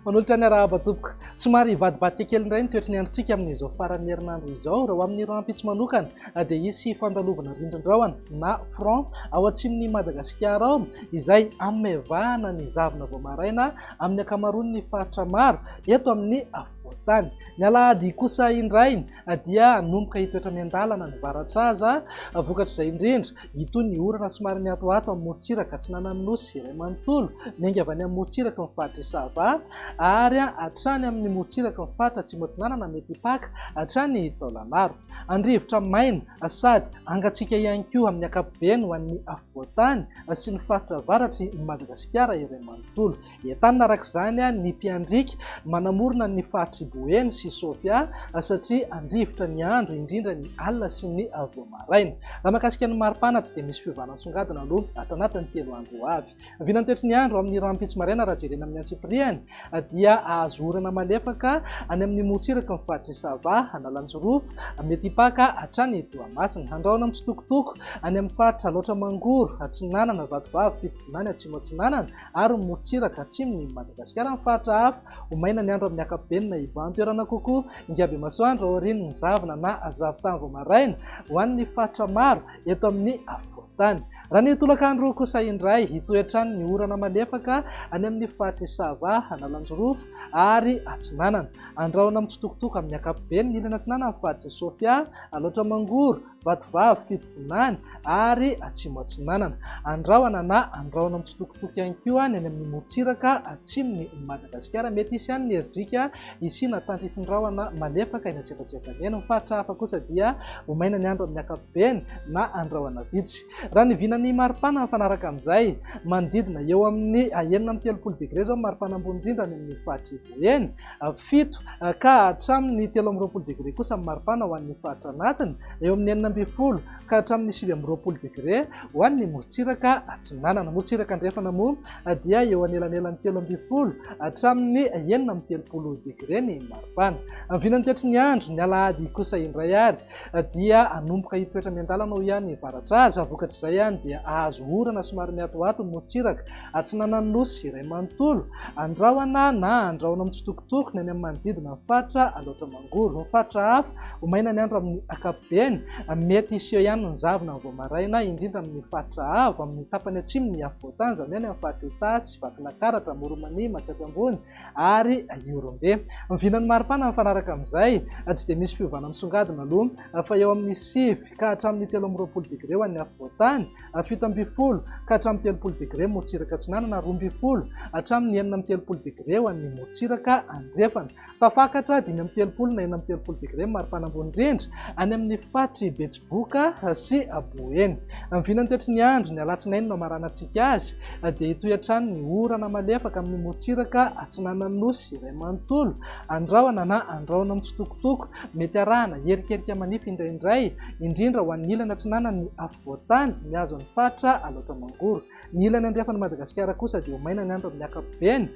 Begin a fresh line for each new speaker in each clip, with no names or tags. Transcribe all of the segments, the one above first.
Manolotra ny arahaba tompoko. Somary hivadibadika kely indray ny toetry ny androntsika amin'izao faran'ny herinandro izao. Raha ho amin'ny rahampitso manokana dia hisy fandalovana rindrin-drahona na front ao atsimon'i Madagasikara ao izay hamevahana ny zavona vao maraina amin'ny ankamaroan'ny faritra maro eto amin'ny voatany. Ny alahady kosa indray dia hanomboka hitoetra miandalana ny varatraza, vokatr'izay indrindra hitohy ny orana somary mihatohato amin'ny morontsiraka atsinanan'ny Nosy iray manontolo, miainga avy any amin'ny morontsiraky ny faritr'i Sava ary hatrany amin'ny morontsiraky ny faritra atsimo-atsinanana mety hipaka hatrany Taolagnaro. Andrivotra maina sady hangatsiaka ihany koa amin'ny ankapobeny ho an'ny afovoantany sy ny faritra avaratry Madagasikara iray manontolo. Entanina araka izany ny mpiandriaka manamorona ny faritr'i Boeny sy Sofia satria handrivotra ny andro indrindra ny alina sy ny vao maraina. Raha mahakasika ny maripana tsy dia misy fiovana nisongadina aloha ato anatin'ny telo andro ho avy. Vinantoetry ny andro amin'ny rahampitso maraina raha jerena amin'ny antsipiriany dia hahazo orana malefaka any amin'ny morontsiraky ny faritr'i Sava, Analanjirofo, mety hipaka hatrany Toamasina. Handrahona mitsitokotoko any amin'ny faritra Alaotra Mangoro atsinanana, Vatovavy, Fitovinany atsimo atsinanana, ary ny morontsiraka atsimon'i i Madagasikara amin'ny faritra hafa. Ho maina ny andro amin'ny ankapobeny na ivan-toerana kokoa. Ingahibe-masoandro aorian'ny zavona na zavon-tany vao maraina ho an'ny faritra maro eto amin'ny afovoan-tany. Raha ny tolakandro kosa indray, hitohy hatrany ny orana malefaka any amin'ny faritr'i Sava, Analanjirofo ary Atsinanana. Andrahona mitsitokotoko amin'ny ankapobeny ny ilany atsinanan'ny faritr'i Sofia, Alaotra Mangoro, Vatovavy, Fitovinany ary Atsimo Atsinanana. Andrahona na andrahona mitsitokotoko ihany koa ny any amin'ny morontsiraka atsimon'i Madagasikara. Mety hisy ihany ny herijika hisiana tandrifin-drahona malefaka eny antsefatsefany eny. Ny faritra hafa kosa dia ho maina ny andro amin'ny ankapobeny na andrahona vitsy. Raha ny vinan'ny maripana mifanaraka amin'izay, manodidina eo amin'ny enina amby telopolo degre izao ny maripana ambony indrindra any amin'ny faritr'i Ivoho eny. fito ka hatramin'ny telo amby roapolo degre kosa ny maripana ho an'ny faritra anatiny, eo amin'ny enina ambin'ny folo ka hatramin'ny sivy amby roapolo degre ho an'ny morontsiraka atsinanana. Morontsiraka andrefana moa dia eo anelanelan'ny telo ambin'ny folo hatramin'ny enina amby telopolo degre ny maripana. Amin'ny vinan'ny toetry ny andro, ny alahady kosa indray ary dia hanomboka hitoetra miandalana ho ihany varatra aza, vokatr'izay dia hahazo orana somary mihatohato ny morontsiraka. Atsinanan'ny Nosy iray manontolo, andrahona na andrahona mitsitokotoko ny any amin'ny manodidina ny faritra Alaotra Mangoro. Ny faritra hafa, ho maina ny andro amin'ny ankapobeny. Mety hiseho ihany ny zavona amin'ny vao maraina, indrindra amin'ny faritra avo amin'ny tapany atsimo ny afovoantany, izany hoe any amin'ny faritr'i Itasy, Vakinakaratra, Moromania, Matsiatra Ambony ary Ihorombe. Miviana ny maripana mifanaraka amin'izay. Tsy dia misy fiovana misongadina aloha fa eo amin'ny sivy ka hatramin'ny telo amby roapolo degre ho an'ny afovoantany. fito ambin'ny folo ka hatramin'ny telopolo degre morontsiraka atsinanana, roa ambin'ny folo hatramin'ny enina amby telopolo degre ho an'ny morontsiraka andrefana. Tafakatra dimy amby telopolo na enina amby telopolo degre ny maripana ambony indrindra any amin'ny faritry Betsiboka sy Boeny. Ny vinany toetry ny andro, ny alatsinainy no hamaranantsika azy dia hitohy hatrany ny orana malefaka amin'ny morontsiraka atsinanan'ny nosy iray manontolo, andrahona na andrahona mitsitokotoko, mety arahana herikerika manify indraindray, indrindra ho an'ny ilany atsinanan'ny voatany mihazo an'i Fatra alaotra mangoro. Ny ilany andrefan'i Madagasikara kosa dia ho maina ny andro amin'ny ankapobeny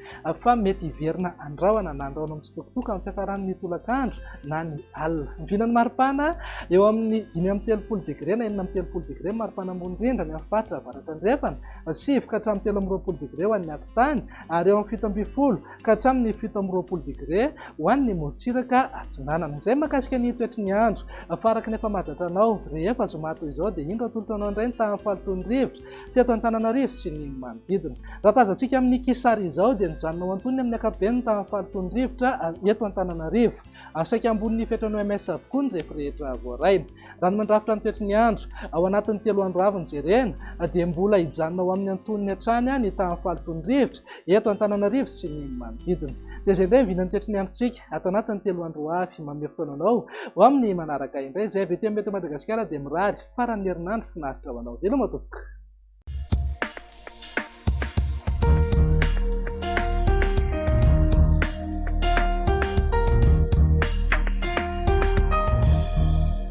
fa mety hiverina andrahona na andrahona mitsitokotoko amin'ny fiafarany ny tolakandro na ny alina. Miviana ny maripana eo amin'ny dimy amby telopolo degre na enina amby telopolo degre ny maripana ambony rindra any amin'ny faritra avaratra andrefana, sivy ka hatramin'ny telo amby roapolo degre ho an'ny afontany ary eo amin'ny fito ambin'ny folo ka hatramin'ny fito amby roapolo degre ho an'ny morontsiraka atsinanana. Izay mahakasika ny toetry ny andro. Fa araka ny efa mahazatra anao, rehefa zoma toy izao dia indro atolotra anao indray ny tahan'ny fahalotoan'ny rivotra teto Antananarivo sy ny manodidina. Raha tazantsika amin'ny kisary izao dia nijanona ho antonony amin'ny ankapobeny ny tahan'ny fahalotoan'ny rivotra eto Antananarivo. Saika ambonin'ny fetran'ny OMS avokoa ny refy rehetra voarainy. Raha ny mandrafitra ny toetry ny andro, ao anatin'ny telo andro avy nojerena, dia mbola hijanona ao amin'ny antonony hatrany ny tahan'ny fahalotoan'ny rivotra eto Antananarivo sy ny manodidina. Dia izay indray ny vilan'ny toetry ny androntsika ato anatin'ny telo andro ho avy. Manome fotoana anao ho amin'ny manaraka indray. Izay avy ety amin'ny Meteo Madagasikara dia mirary faran'ny herinandro finaritra ho anao. Veloma tompoko!